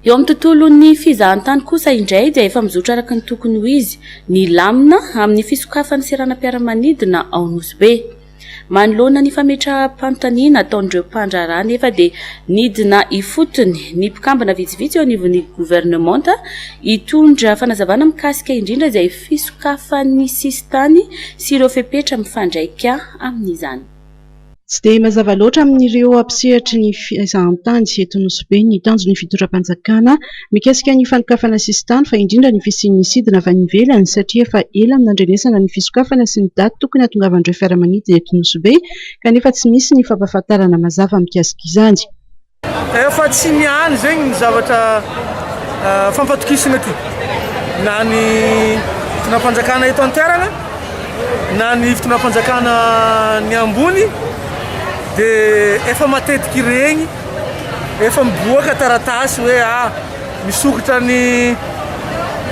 Eo amin'ny tontolon'ny fizahantany kosa indray dia efa mizotra araka ny tokony ho izy ny lamina amin'ny fisokafan'ny seranam-piaramanidina ao Nosy Be. Manoloana ny fametraham-panontaniana ataon'ireo mpandraharaha anefa dia nidina ifotony ny mpikambana vitsivitsy eo anivon'ny governemanta hitondra fanazavana mikasika indrindra izay fisokafan'ny sisintany sy ireo fepetra mifandraika amin'izany. Tsy dia mazava loatra amin'ireo mpisehatry ny fizahantany eto Nosy-Be ny tanjon'ny fitondram-panjakana mikasika ny fanokafana sisintany fa indrindra ny fisian'ny sidina avy any ivelany satria efa ela no nandrenesana ny fisokafana sy ny daty tokony hahatongavan'ireo fiaramanidina eto Nosy-Be kanefa tsy misy ny fampahafantarana mazava mikasika izany. Efa tsy ny any zegny ny zavatra fampatokisana ty na ny fitondram-panjakana eto an-toerana na ny fitondram-panjakana ny ambony de efa matetiky regny efa miboaka taratasy hoe ah misokatra ny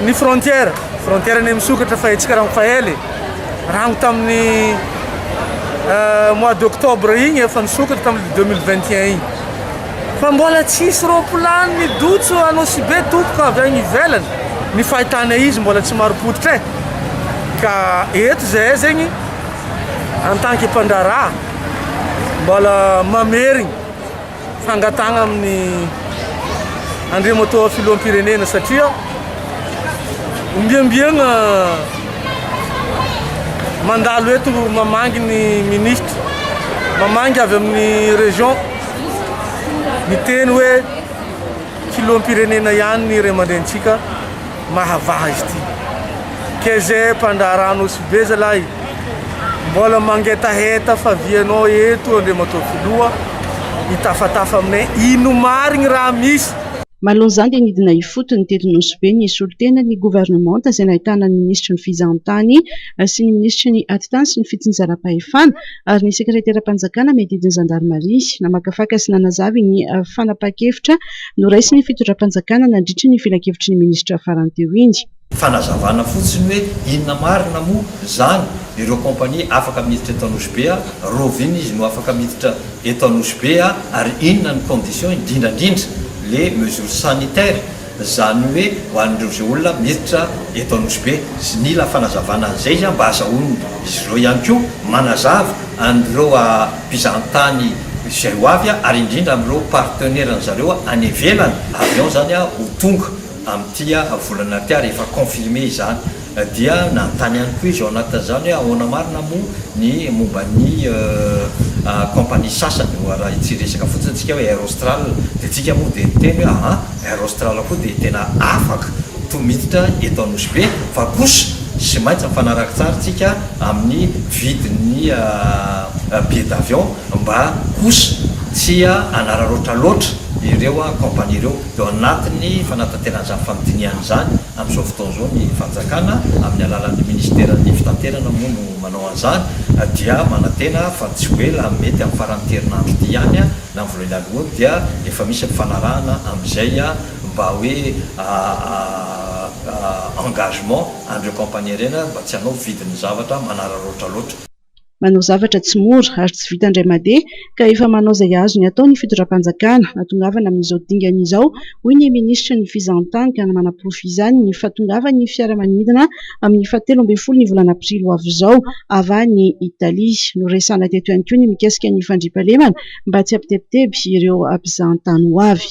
ny frontière frontière ny misokatra fa etsika rango faela e rango tamin'ny euh, mois d'octobre igny efa nisokatra tamin'ny 2021 igny fa mbola tsisy roapolany ny dotso anao sy be tompoko avy agny ivelany ny fahitana izy mbola tsy maro pototra e ka eto zay zegny en tant que mpandraraha mbola mamerigny fangatahana amin'ny Andriamatoa Filoham-pirenena satria ombiembiegna mandalo eto mamangy ny ministra, mamangy avy amin'ny région miteny hoe Filoham-pirenena ihany ny ray aman-drenintsika. Mahavaha izy ity. Keze mpandraharaha Nosy be zalahy mbola mangetaheta fa vy anao eto Andriamatoa Filoha hitafatafa aminay ino marigny raha misy. Manoloana izany dia nidina ifotony teto Nosy be ny solontena ny governemanta izay nahitana ny minisitry ny Fizahantany sy ny minisitry ny Atitany sy ny Fitsinjaram-pahefana ary ny sekreteram-panjakana miadidy ny zandarimaria namakafaka sy nanazavy ny fanapahan-kevitra noraisin'ny fitondram-panjakana nandritry ny filankevitry ny minisitra farany teo iny. Fanazavana fotsiny hoe inona marina moa izany ireo compagnie afaka miditra eto Anosibe a? Rov inona izy no afaka miditra eto Anosibe a? Ary inona ny condition indrindra indrindra le mesure sanitaire zany hoe ho an'ireo izay olona miditra eto Anosibe? Sy nila fanazavana an'izay izy a mba azahoan'izy ireo ihany koa manazava an'ireo a. mpizahantany izay ho avy ary indrindra amin'ireo partenaires-ny zareo any ivelany, avion izany ho tonga amin'ity volana ity ary efa confirmer izany. Dia nanontany ihany koa izy ao anatin'izany hoe ahoana marina moa ny momba ny compagnie sasany, raha ity resaka fotsiny isika hoe Air Austral, dia isika moa dia niteny hoe aa. Air Austral koa dia tena afaka to miditra eto Anosy Be fa kosa sy maintsy mifanaraka tsara tsika amin'ny vidin'ny billet d'avion mba kosa tsy hanararaotra loatra ireo compagnie ireo. Eo anatin'ny fanatanterana izany fanodinihana izany amin'izao fotoana izao ny fanjakana amin'ny alalan'ny ministeran'ny fitanterana moa no manao an'izany dia manantena fa tsy ho ela mety amin'ny faran'ny herinandro ity ihany Na ny voalohany alohany dia efa misy mifanarahana amin'izay mba hoe engagement an'ireo kaompania ireny mba tsy hanao vidin'ny zavatra manararaotra loatra. Manao zavatra tsy mora ary tsy vita indray mandeha ka efa manao izay azony atao ny fitondram-panjakana hatongavana amin'izao dingana izao hoy ny minisitry ny Fizahantany ka manaporofo izany ny fahatongavan'ny fiaramanidina amin'ny fahatelo ambin'ny folo ny volana aprily ho avy izao avy any Italia. Noresahana teto ihany koa ny mikasika ny fandriampahalemana mba tsy hampitebiteby ireo mpizahatany ho avy.